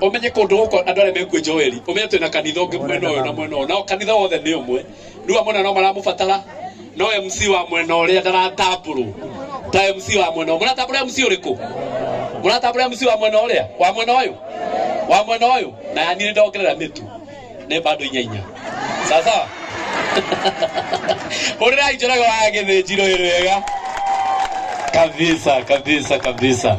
umenye kundu guku andu aria mekuo joeli umenye twina kanitha ungi mwena uyu na mwena uyu nao kanitha wothe ni umwe riu amwe na no maramubatara no mc wa mwena uria ndaratamburu ta mc wa mwena uyu muratambura mc uriku muratambura mc wa mwena uria wa mwena uyu wa mwena uyu na yani ni ndongerera mitu ni bado inya inya sawa sawa hurirai njoroge wa githĩnjiro ĩ wega kabisa kabisa kabisa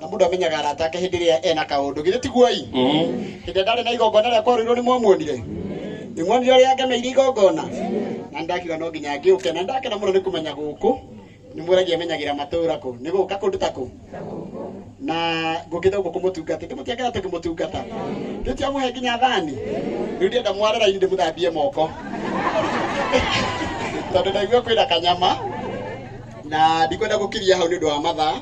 na mũndũ amenyaga arata ake hĩndĩ ĩrĩa ena kaũndũ githĩ tiguoi hĩndĩ ĩrĩa ndarĩ na igongona rĩa kwarũirwo nĩ mwamuonire nĩ muonire ũrĩa angemeire igongona na nĩ ndakiuga no nginya ngĩũke na nĩ ndakena mũno nĩ kũmenya gũkũ nĩ mwĩragia menyagĩra matũũra kũ nĩ gũka kũndũ ta kũ na ngũkĩte gũkũ kũmũtungate ndĩ mũtiakera tũkĩmũtungata rĩu tiamũhe nginya thani rĩu ndĩenda mware raini ndĩmũthambie moko tondå ndaigua kwä na kanyama na ndikwenda gå kiria hau nä å ndå wa mathaa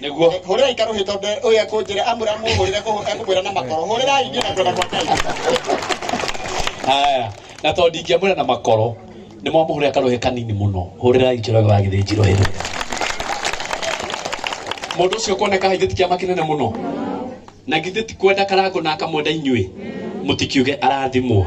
nĩguo hũrĩrai karũhĩ tondũ ũyũ ekũnjĩra amwĩra amũhũrĩre kũhũ- ekũmwĩra na makoro hũrĩrai niĩ na kwenda kwa ngai haya na tondũ ndingĩamwĩra na makoro nĩ mwamũhũrĩra karũhĩ kanini mũno hũrĩrai njoroge wa gĩthĩnjiro hĩndĩ mũndũ ũcio kuoneka haithĩ ti kĩama kĩnene mũno na githĩ ti kwenda karangũ na akamwenda inyuĩ mũtikiuge arathimwo